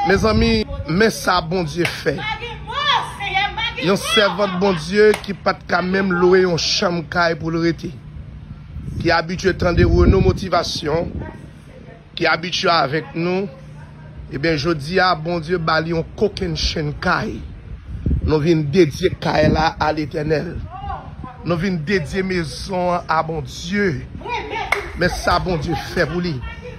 Mezanmi men sa Bondye fè yon sèvant Bondye ki pat ka menm lwe yon chanm kay pou l rete, ki abitye tande Renaud Motivation, ki abitye avèk nou, ebyen jodi a Bondye ba li yon kokennchenn kay, nou vin dedye kay la a Letènèl, nou vin dedye mezon an a Bondye, men sa Bondye fè pou li.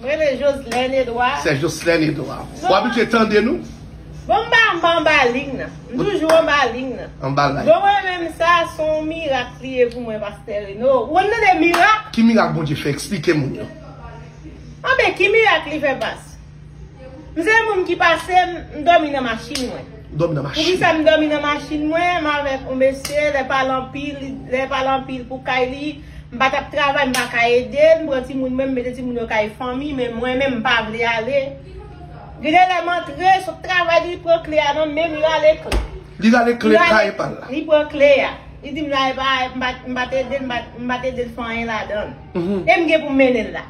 M renmen Joslène Edouard. Sè Joslène Edouard. Ou abitye tande nou? Bon m pa m pa anba ling nan. M toujou anba ling nan. Anba line. Bon mwen menm sa s on mirak li ye pou mwen Pastè Reno. Ou konn tande mirak? Ki mirak Bondye fè? Eksplike moun yo. Anben ki mirak li fè pas? M se moun ki pase m dòmi nan machin mwen. Ou dòmi nan machin? Poukisa m dòmi nan machin mwen? M avèk on mesye lè pa l anpil lè pa l anpil pou kay li. M pa tap travay m pa ka ede m pran timoun mwen m mete timoun yo kay fanmi men mwen menm m pa vle ale Li genlè m antre sot travay li pran kle a nan menm li rale kle Li rale kle kay pa l la Li pran kle a Li di m la epa m pa t ede l m pa t ede l fè anyen ladan l e m gen pou m mennen l la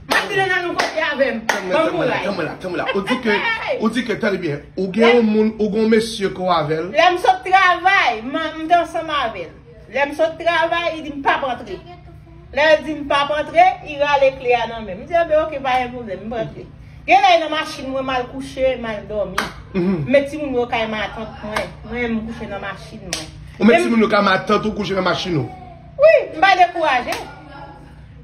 M ap di nan nan nou kote avè m Ban m kouraj Tann mwen la tann mwen la Ou di ke ou di ke tande byen ou gen yon moun ou gen yon mesye ke w avè l Lè m sot travay m te ansanm avè l. Lè m sot travay, li di m pap antre. Lè l di m pap antre, li rale kle a nan men m. M di an ben ok, pa gen pwoblèm, m rantre. Gen lè nan machin mwen, m al kouche, m al dòmi. M met timoun yo kay matant mwen. Mwen menm m kouche nan machin mwen. Ou met timoun yo kay matant ou kouche nan machin ou? Wi, m pa dekouraje.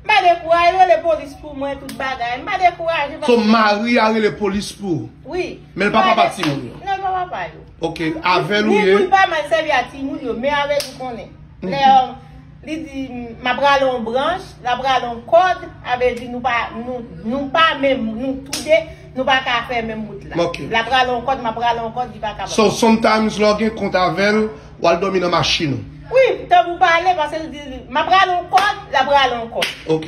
M pa dekouraje, yo rele polis pou mwen, tout bagay. M pa dekouraje. So mari a rele polis pou ou? Wi. Men l pa papa timoun yo? Non, l pa papa yo. Ok avèl ou ye. Ni pou li pa mal sèvi a timoun yo men avèl ou konnen. Lè li di map rale yon branch, lap rale yon kòd, sa vle di nou pa nou pa menm nou tou de nou pa ka fè menm wout la. Ok. Lap rale yon kòd, map rale yon kòd li pa kapab. So sometimes lè w gen kont avèl, wal dòmi nan machin ou? Wi, tanpou pale paske li di map rale yon kòd, lap rale yon kòd. Ok.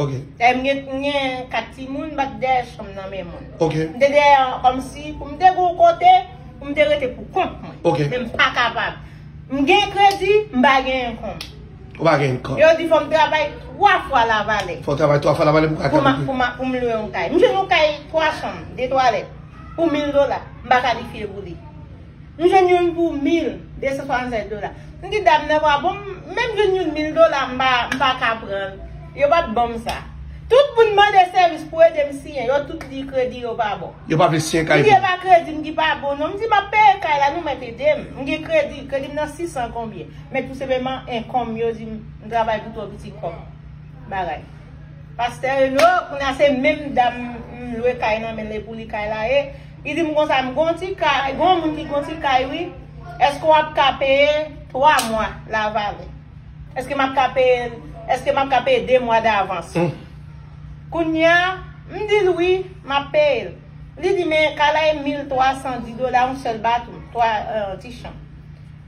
Ok. Dayè m gen m gen 4 timoun, m pa t dèyè chanm nan men moun. Ok. M te dèyè an kòmsi pou m te gen yon kote pou m te rete pou kont mwen. Ok. Men m pa kapab. M gen kredi, m pa gen enkonm. Ou pa gen enkonm. Yo di fò m travay 3 fwa lavalè. Fò w travay 3 fwa lavalè pou w ka achte yon kay. Pou m pou m lwe yon kay. M jwenn yon kay 3 chanm, 2 twalèt pou 1000 dola. M pa kalifye pou li. M jwenn youn pou 1265 dola. M di dam nan bwa bon m menm jwenn youn 1000 dola m pa ka pranl. Yo pat banm sa. Tout moun mande sèvis pou ede m siyen yo tout di kredi yo pa bon. Yo pa vle siyen kay pou mwen. M di e pa kredi m ki pa bon non. M di map peye kay la nou mèt ede m. M gen kredi, kredi m nan 600 konbyen. Men tou senpleman enkonm yo di m m travay pou twò piti kòm bagay. Pastè Reno, kounya se menm dam m lwe kay nan menl e pou li kay la ye. Li di m konsa m gon ti kay, gon moun ki gon ti kay wi, eske wap ka peye 3 mwa la vale? Eske map ka peye l, eske map ka peye 2 mwa davans? Kounya m di l wi, map peye l. Li di men kay la e 1310 dola yon sèl bato, 3 ti chanm.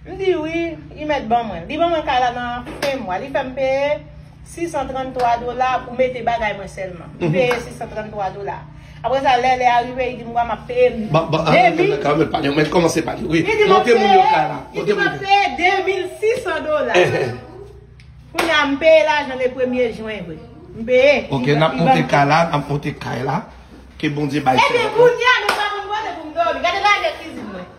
M di wi, li mèt ban mwen l. Li ban mwen kay la nan fen mwa, li fè m peye. 633 dola pou mete bagay mwen selman. Li peye 633 dola. Apre sa lè lè a rive li di m wa map peye m 2600 dola. Kounye a m peye lajan le premye jwen vre. M peye. Ok nap monte kay la, nap monte kay la. Ke bondye bay fè. Ebyen kounye a nou pa konn kote pou m domi. Gade lagè kizin mwen.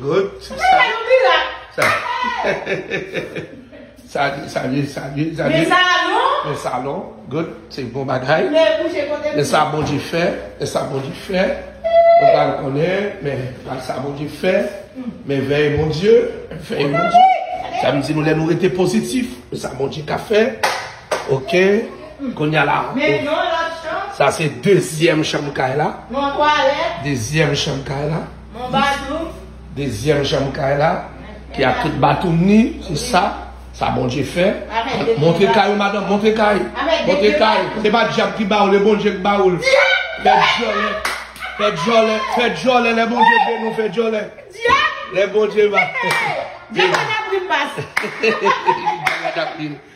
Good. Sa. Sa. Sa. Men salon. Men salon. Good. Se bon bagay. Men sa bon di fè. Men sa bon di fè. Mwen pa l konnen. Men sa bon di fè. Men veye bon di. Veye bon di. Sa m di nou lè nou rete pozitif. Men sa bon di ka fè. Ok. Konya la. Men yon lòt chanm. Sa se dezyèm chanm kay la. Yon twalèt. Dezyèm chanm kay la. Mon batou. Dezyèm chanm kay la. Ki ak tout batou ni. Se sa. Sa Bondye fè. Montre kay ou madanm. Montre kay. Montre kay. Se pa dyab ki ba ou. Le Bondye ki ba ou l. Fè dyòlè. Fè dyòlè. Fè dyòlè. Le Bondye beni ou. Fè dyòlè. Dyab. Le Bondye ba. Dyab pa nan prim pas. Dyab pa nan prim.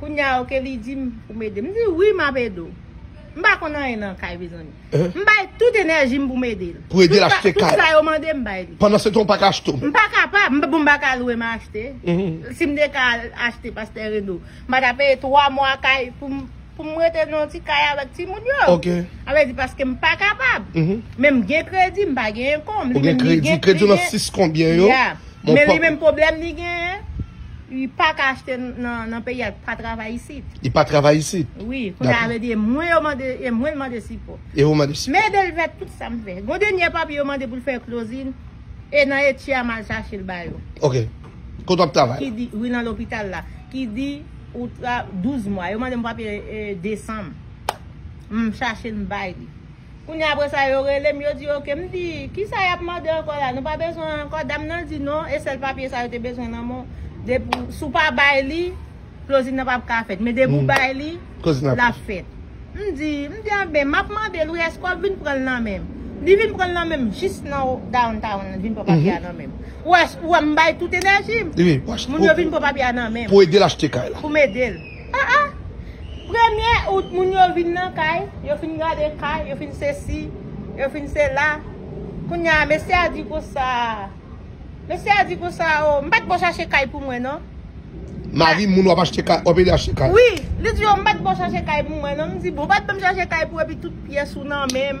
Kounya ok li dim poum ede. M di wi map ede w. M pa konn anyen nan kay mezanmi. M bay tout enèji m poum ede l. Pou ede l achte kay. Tout sa yo mande m bay li. Pandan se tan w paka achte w. M pa kapab. M bon m paka lwe m achte. Si m te ka al achte pastè Reno. M pa ta peye 3 mwa kay poum poum rete nan yon ti kay avèk timoun yo. Ok. A vle di paske m pa kapab. Men m gen kredi m pa gen enkonm. Ou gen kredi. Kredi w nan 6 konbyen yo. Ya. Men li menm pwoblèm li genyen, li pa ka achte nan peyi a, li pa travay isit. Li pa travay isit? Wi, kounye a yo di e mwen yo mande, e mwen l mande sipò. E ou mande sipò. Men ede l fè tout sa m fè. Gon dènye papye yo mande pou l fè klozin, e nan etye a m al chache l ba yo. Ok. Kote w ap travay la? Ki di, wi nan lopital la. Ki di, ou tra, 12 mwa. Yo mande m papye desanm. M chache l m bay li. Kounya apre sa yo rele m, yo di ok. M di, kisa y ap mande ankò la? Nou pa bezwen an ankò? Dam nan di non, e sèl papye sa yo te bezwen nan men w. Depi w, si w pa bay li, closing nan pap ka fèt. Men depi w bay li, l ap fèt. M di, m di anben, m ap mande l wi, èske w ap vin pran l nan men m? Li vin pran l nan men m, jis nan downtown li vin pran papye a nan men m. Ou wè, ou wè m bay tout enèji m. Moun yo vin pran papye a nan men m. Pou ede l achte kay la. Pou m ede l. Ah ah! Premye out moun yo vin nan kay, yo fin gade kay, yo fin sesi, yo fin sela. Kounye a mesye a di konsa, mesye a di konsa o, m pa t bon chache kay pou mwen non. Mari moun w ap achte kay, w ap ede achte kay? Wi, li di o m pa t bon chache kay pou mwen non. M di bon, w pa t bon chache kay pou epi tout pyès ou nan men m.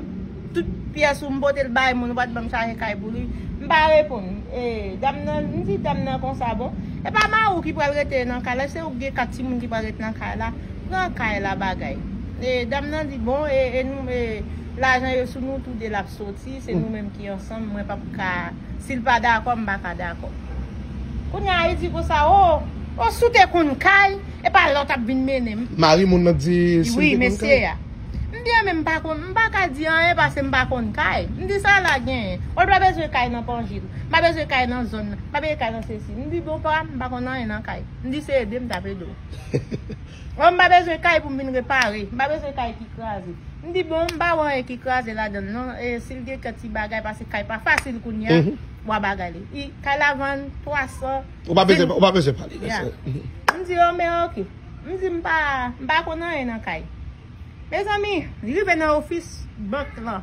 Tout pyès ou m pote l bay moun ou pa t ban m chaje kay pou li. M pa reponn. E dam nan, m di dam nan konsa bon, e pa mari w ki pral rete nan kay la, se ou ki gen 4 timoun ki pral rete nan kay la, pran kay la bagay. E dam nan di bon, e nou, e lajan yo sou nou tou de l ap soti, se nou menm ki ansanm, mwen p ap ka, si l pa dakò, m pa ka dakò. Kounye a li di konsa, o, o si w te konn kay, e pa la w t ap vin mennen m. Mari moun nan di si l te konn kay. Wi, mesye a. M byen men m pa konn, m pa ka di anyen pase m pa konn kay. M di sa la genyen. Ou pa bezwen kay nan Pangil. M pa bezwen kay nan zòn nan. M pa bezwen kay nan sesi. M di bon pa, m pa konn anyen nan kay. M di se ede m t ap ede w. Ou m pa bezwen kay pou m vin repare. M pa bezwen kay ki kraze. M di bon, m pa wè anyen ki kraze ladan l non. E si l gen kèk ti bagay pase kay pa fasil kounye a, wa bagay li. Kay la vann 300. Ou pa bezwen pale de sa. M di yo men ok. M di m pa m pa konn anyen nan kay. Mezanmi, li rive nan ofis bank lan,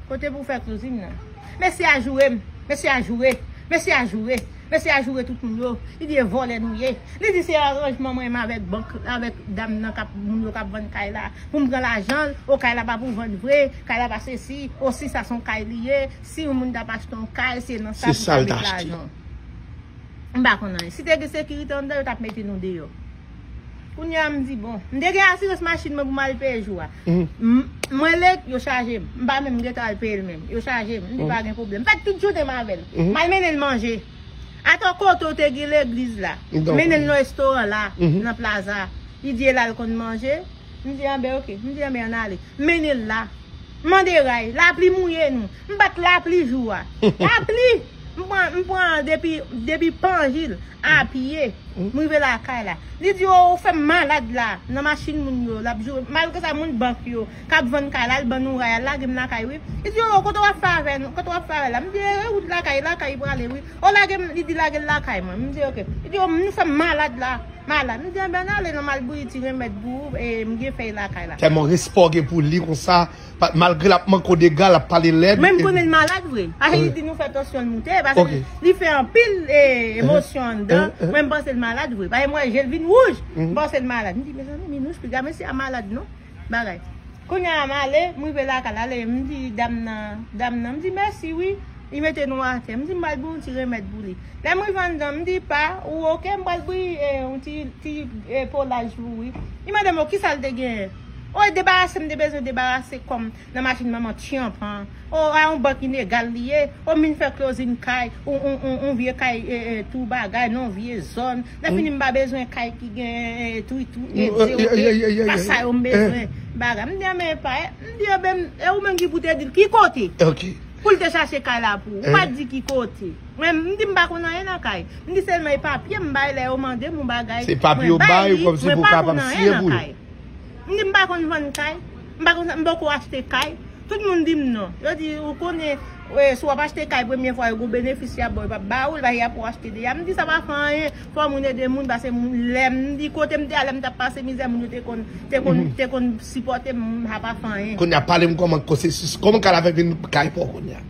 kote pou fè closing nan. Mesye a joure m, mesye a joure, mesye a joure, mesye a joure tout moun yo, li di e vòlè nou ye. Li di se aranjman mwen menm avèk bank, avèk dam nan kap, moun yo kap vann kay la, pou m pran lajan l, o kay la pa pou vann vre, kay la pa sesi, o si sa son kay li ye, si yon moun tap achte yon kay se nan sa pou ta met lajan. M pa konn anyen. Si te gen sekirite anndan, yo t ap mete nou deyò. Kounye a m di bon. M te gen asirans machin mwen pou m al peye jou a. Mwen lèt, yo chaje m. M pa menm gen tan al peye l menm. Yo chaje m. M di pa gen pwoblèm. M fè tout jounen m avè l. M al mennen l manje. Atò kote w te gen legliz la. M mennen l nan restoran la, nan plaza. Li di e la l konn manje. M di anbè ok. M di anbè ann ale. M mennen l la. M mande ray. Lapli mouye nou. M bat lapli jou a. Lapli! M pran, m pran depi, depi panjil, a pye. M rive lakay la. Li di oo ou fè m malad la. Nan machin moun yo. L ap joure. Malgre sa moun bank yo, k ap vann kay la, al ban nou ray. Al lage m lakay wi. Li di oo kote w ap fè avè nou, kote w ap fè avè la. M di e wout lakay, lakay prale wi. Oh lage m, li di lage l lakay mwen. M di ok. Li di oh nou fè m malad la. Malad. M di anben n ale nan m al bouyi ti renmèd pou ou e m gen fèy lakay la. Tèlman respè w gen pou li konsa, malgre l ap manke w dega, l ap pale lèd. Men m konnen l malad vre. Pase li di nou fè tansyon l moute. Pase li fè anpil emosyon anndan. Mwen m panse l malad vre. Pase m wè je l vin wouj. M panse l malad. M di mezanmi Minouch piga mesye a malad non. bagay. Kounya a m ale, m rive lakay la, ale m di dam nan, dam nan m di mèsi wi, li mete nou atè. M di m pral bouyi yon ti remèd pou li. Lè m rive anndan, m di pa, ou oke, m pral bouyi yon ti, ti polaj pou ou wi. Li mande m o kisa l te genyen. O e debarase m te bezwen debarase kò m. Nan machin manman Tianp an. O a yon bank inegal li ye. O m vin fè klozin kay. Yon vye kay tou bagay nan yon vye zòn. Lè fini m pa bezwen kay ki gen etri tou e de ou de. Se pa sa yo m bezwen. Bagay. M di a men epa e. M di ebe m. E ou menm ki pou te di l ki kote. Pou l te chache kay la pou ou. Ou pa t di ki kote. Mwen m di m pa konn anyen nan kay. M di selman e papye m bay lè yo mande m yon bagay. Se papye ou bay li. Mwen pa konn anyen nan kay. M di m pa konn vann kay, m pa konn sa, m poko achte kay. Tout moun di m non. Yo di, ou konnen, si w ap achte kay premye fwa yo gen yon benefis y ap ba w, yo pa p ba ou l paske y ap pou w achte deja. M di sa pa fè anyen, fò moun ede moun pase moun. Lè m di kote m te a lè m t ap pase mizè moun yo te konn, te konn, te konn sipòte m, sa pa fè anyen. Kounye a pale m kòman kosesis, kòman kay la fè vin kay pa w kounye a?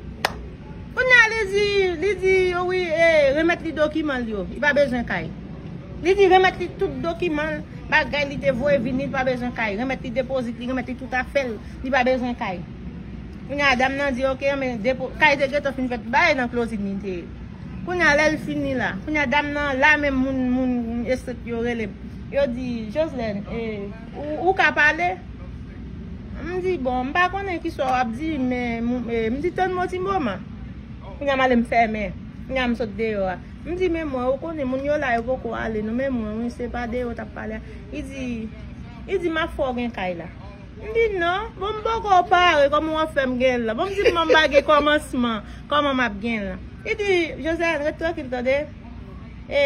Kounya li di, li di yo wi e remèt li dokiman l yo, li pa bezwen kay. Li di remèt li tout dokiman l, bagay li te voye vini, li pa bezwen kay. Remèt li depozit li, remèt li tout afè l, li pa bezwen kay. Kounya dam nan di ok anben depo, kay te gentan fin fèt bay nan klozin li te ye. Kounya lè l fini la, kounya dam nan la menm moun, moun estrikti yo rele, yo di Joslèn e. Ou ka pale? M di bon, m pa konnen ki sa w ap di, men m di tann m yon ti moman. Kounye a m ale m fèmen, kounye a m sot deyò a. M di men mwen, ou konnen moun yo la yo po ko ale nou, men mwen wi se pa deyò w t ap pale a. Li di, li di m ap fè w gen kay la. M di non, bon m po ko pare, kòman w ap fè m gen l la? Bon m di m pa gen kòmansman, kòman m ap gen l la? Li di, Josèlèn ret trankil tande, e.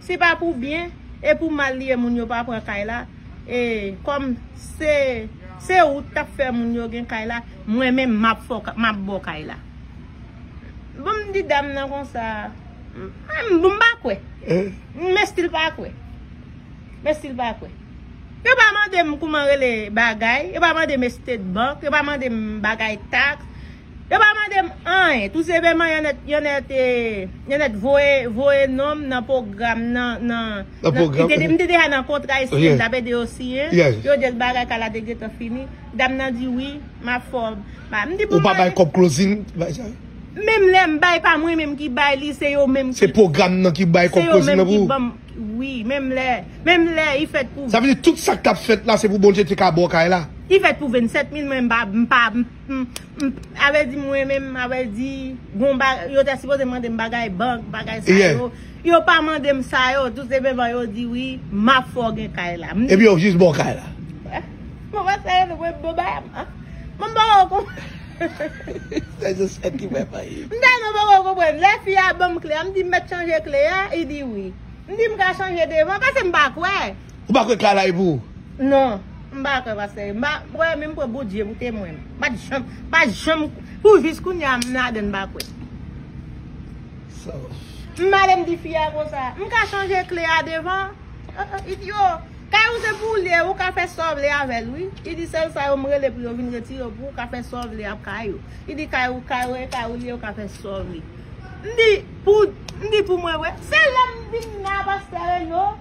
Si pa pou byen e pou mal li ye moun yo pa pran kay la e kòm se se ou ki tap fè moun yo gen kay la mwen menm map fè w map ba w kay la bon m di dam nan konsa bon m pa kwè m estil pa kwè m estil pa kwè yo pa mande m kouman rele bagay yo pa mande m estate bank yo pa mande m bagay tax Yo pa mande m anyen. Tou senpeman yo nèt voye non m nan pwogram nan. M te deja nan kontra e siyen, m t ap ede yo siyen. Yo di l bagay kay la te gentan fini. Dam nan di wi, m ap fè w. Ou pa bay kòb klozin? Menm lè m bay, pa mwen menm ki bay li, se yo menm ki. Se pwogram nan ki bay kòb klozin nan pou ou? Se yo menm ki ban m. Wi, menm lè. Menm lè, li fèt pou. Sa vle di tout sa k t ap fèt la se pou Bondye te ka ba w kay la? Li fèt pou 27 mil, men m pa. Abel di m renmen m Abel di gon bagay yo te sipoze mande m bagay bank bagay sa yo yo pa mande m sa yo tout se menm jan yo di wi m ap fè w gen kay la epi yo jis ba w kay la mwen pa sa yo mwen bon bagay mwen pa wè w konprann se jis sa ki fè m ri m tèlman pa wè w konprann lè fi a ban m kle a m di m mèt chanje kle a li di wi m di m ka chanje devan pase m pa kwè. Ou pa kwè ka lay pou ou? Non, m pa kwè pastè. M pa kwè men m pran Bondye pou temwen. M pa t janm, m pa janm pou jis kounye a m ladan m pa kwè. M pa ale m di fi a konsa. M ka chanje kle a devan. Li di yo, kay ou se pou ou li ye, ou ka fè sa w vle avè l wi. Li di sèl sa yo m rele pou yo vin retire l pou ou ka fè sa w vle ak kay ou. Li di kay ou, kay ou e kay ou li ye, ou ka fè sa w vle. M di pou, m di pou mwen wè. Se lè m vin nan pastè Reno.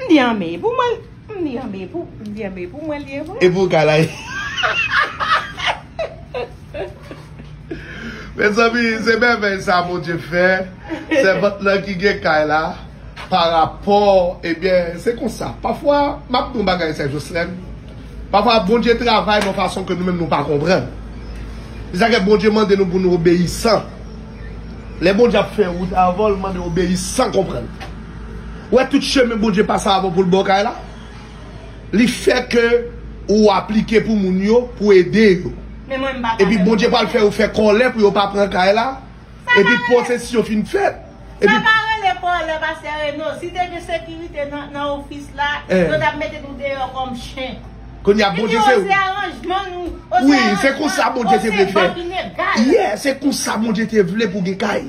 M di anmeyy pou mwen m di anmeyy pou m di anmeyy pou mwen li ye vre. Epi w ka la Mezanmi se mèvèy sa Bondye fè sèvant lan ki gen kay la pa rapò ebyen se konsa pafwa m ap di yon bagay sè Joslèn pafwa Bondye travay yon fason ke nou menm nou pa konprann se sa k fè Bondye mande nou pou nou obeyisan lè Bondye ap fè wout avan l mande obeyi san konprann. Ou wè tout chemen Bondye pase avèw poul baw kay la? Li fè ke ou aplike pou moun yo pou ede yo. Epi Bondye pral fè yo fè kòlè pou yo pa pran kay la, epi posesyon fin fèt, epi. Kounya Bondye se ou. Wi, se konsa Bondye te vle fè. Yè, se konsa Bondye te vle pou gen kay.